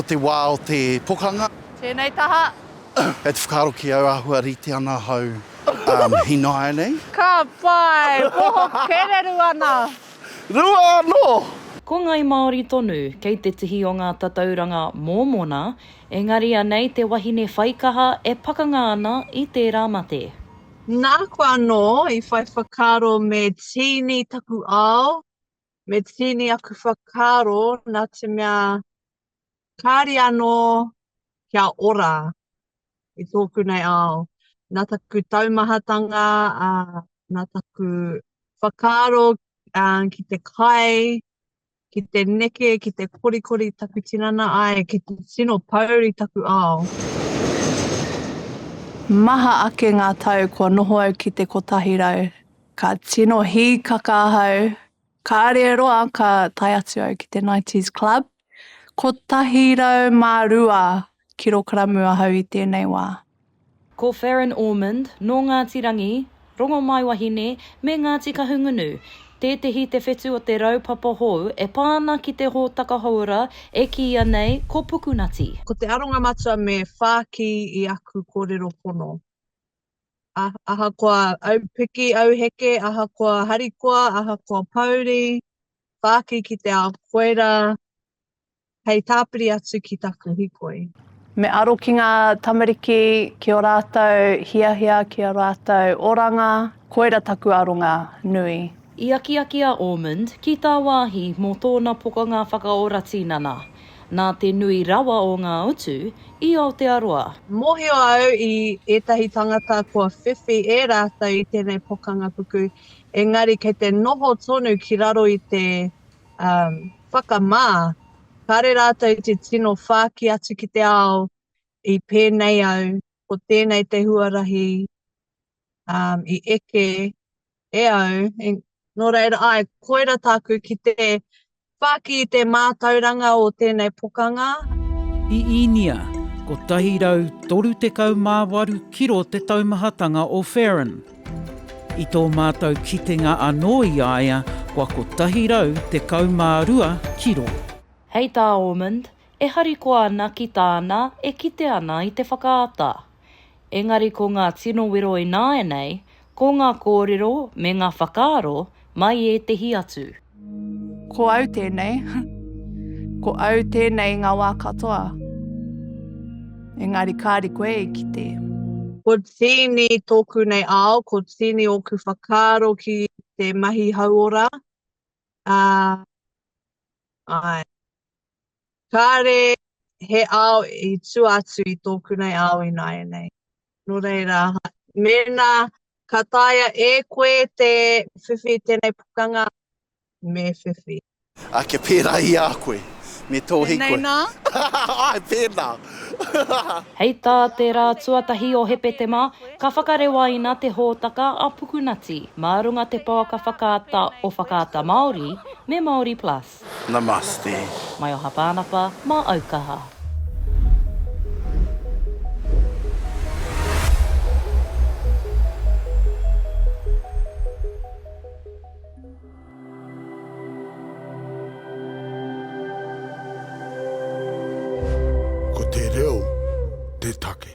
Ko te wā o te pokanga. Tēnei taha. Kei te whakaaro ki au āhua rite ana ahau hīnāianei. Ka pai! Poho kererū ana! Rua anō! Ko Ngai Māori tonu kei te tihi o ngā tatauranga mōmona, engari anei te wahine whaikaha e pakanga ana i tērā mate. Nāku anō i whai whakaaro me tīni taku ao, me tīni aku whakaaro nā te mea kāre anō kia ora i tōku nei ao. Nā taku taumahatanga, ā, nā taku whakaaro ā, ki te kai, ki te neke, ki te korikori taku tinana ai, ki te tino pouri taku ao. Maha ake ngā tau kua noho au ki te kotahi rau. Ka tino hīkaka ahau, kāre roa ka tae atu au ki te Nighties Club. Kotahi rau mā rua kirokaramu ahau i tēnei wā. Ko Farron Ormond, nō Ngāti Rangi, Rongomaiwahine me Ngāti Kahungunu, tētehi te whetu o te raupapa hou e pā ana ki te hōtaka houora e kīia nei ko Pukunati. Ko te aronga matua me whāki i aku kōrero pono. ahakoa aupiki, auheke, ahakoa harikoa, ahakoa pouri, whāki ki te ao koera, hei tāpiri atu ki taku hikoi. Me aro ki ngā tamariki, ki o rātou hiahia, ki o rātou oranga, koera taku aronga nui. I akiaki a Ormond ki tāwāhi mō tōna pokanga whakaora tīnana, nā te nui rawa o ngā utu i Aotearoa. Mōhio au i ētahi tangata kua whiwhi e rātou i tēnei pokanga puku, engari kei te noho tonu ki raro i te whakamā, kāre rātou te tino whāki atu ki te ao i pēnei au, ko tēnei te huarahi i eke e au, e, nō reira, ai, koira tāku ki te whāki i te mātauranga o tēnei pokanga. I Īnia, 138 kiro te taumahatanga o Fearon. I tō mātou kitenga anō i a ia kua 112 kiro. Hei tā Ormond, e harikoa ana ki tāna e kite ana i te whakaata. Engari ko ngā tino wero ināianei, ko ngā kōrero me ngā whakaaro mai ētehi atu. Ko au tēnei. Ko au tēnei i ngā wā katoa. Engari kāre koe i kite. Ko tīni tōku nei ao, ko tīni ōku whakaaro ki te mahi hauora, ā, āe. Kāre he ao i tua atu i tōku nei ao ināianei. Nō reira, mēnā ka taea e koe te whiwhi i tēnei pukanga, me whiwhi. Ā, kia pērā i a koe, me tō hīkoi. Pēnei nā? Āe, pēnā. Hei tā te rā tuatahi o Hepetema, ka whakarewaina te hōtaka a Pukunati mā runga te pouaka whakaata o Whakaata Māori me Māori Plus. Namaste. Mai oha Pānapa, mā au kaha. Ko te reo te take.